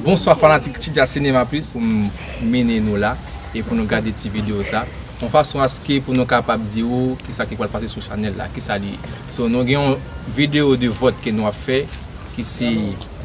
Bonswa fanatik Chidja Cinéma Plus pou m mennen nou la e pou nou gade ti video sa yon fason aske pou nou kapab di ou kisa ki pral pase sou chanèl la kisa li ye so nou gen yon video de vòt ke nou ap fè ki se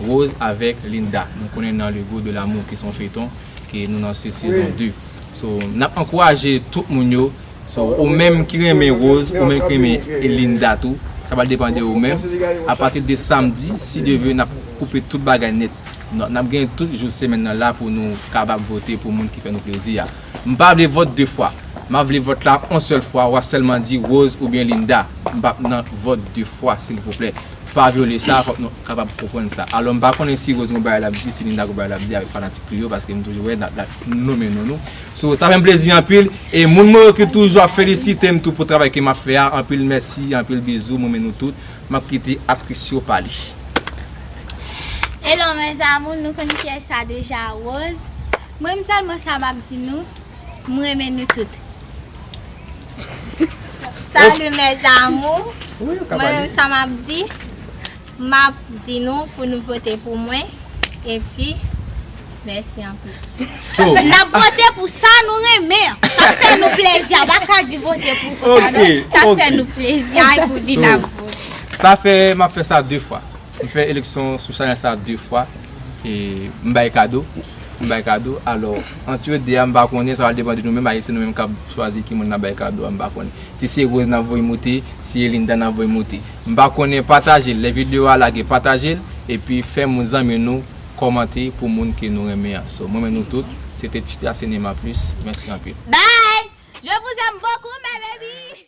Rose avèk Linda nou konnen nan le gout de l'amour ki se yon feyton ke nou nan se sezon 2 so nap ankouraje tout moun yo. So ou menm ki renmen Rose ou menm ki renmen Linda tou sa pral depan de ou menm a pati de samdi si Dye ve nap koupe tout bagay nèt nap gen tout jou semèn nan la pou nou kapab vote pou moun ki fè nou plezi a m pa vle vòt de fwa map vle vòt la on sèl fwa wap sèlman di Rose oubyen Linda m pap nan vòt de fwa silvouplè pa vyole sa fòk nou kapab konprann sa alò m pa konnen si Rose gen yon bagay lap di si Linda gen yon bagay lap di avèk fanatik li yo paske m toujou wè lap nonmen non nou. So sa fèm plezi anpil e moun mwen yo ki toujou ap felisitem tou pou travay ke map fè a anpil mèsi anpil bizou mwen renmen nou tout map kite aktris yo pale. Hello mes amours nou konn kiyès sa deja Rose mwen menm sèlman sa map di nou m renmen nou tout salut mes amours mwen menm sa map di. Map di nou pou nou vote pou mwen epi mèsi anpil. Nap vote pou sa nou renmen an. Sa fè nou plezi a pa ka di vote pou konsa non. Sa fè nou plezi a epi vin ap vote. Sa fè map fè sa 2 fwa. M fè eleksyon sou chanèl sa 2 fwa e m bay kado. M bay kado alò antre 2 a m pa konnen sa pral depan de nou menm ayisyen nou menm kap chwazi ki moun nap bay kado a m pa konnen. Si se Rose nap voye moute, si e Linda nap voye moute. M pa konnen patajel lè video a lage patajel epi fè moun zanmi nou kòmante pou moun ke nou renmen an so m renmen nou tout se te Chita Cinema plus mèsi anpil. Bye! Je vous aime beaucoup mes baby!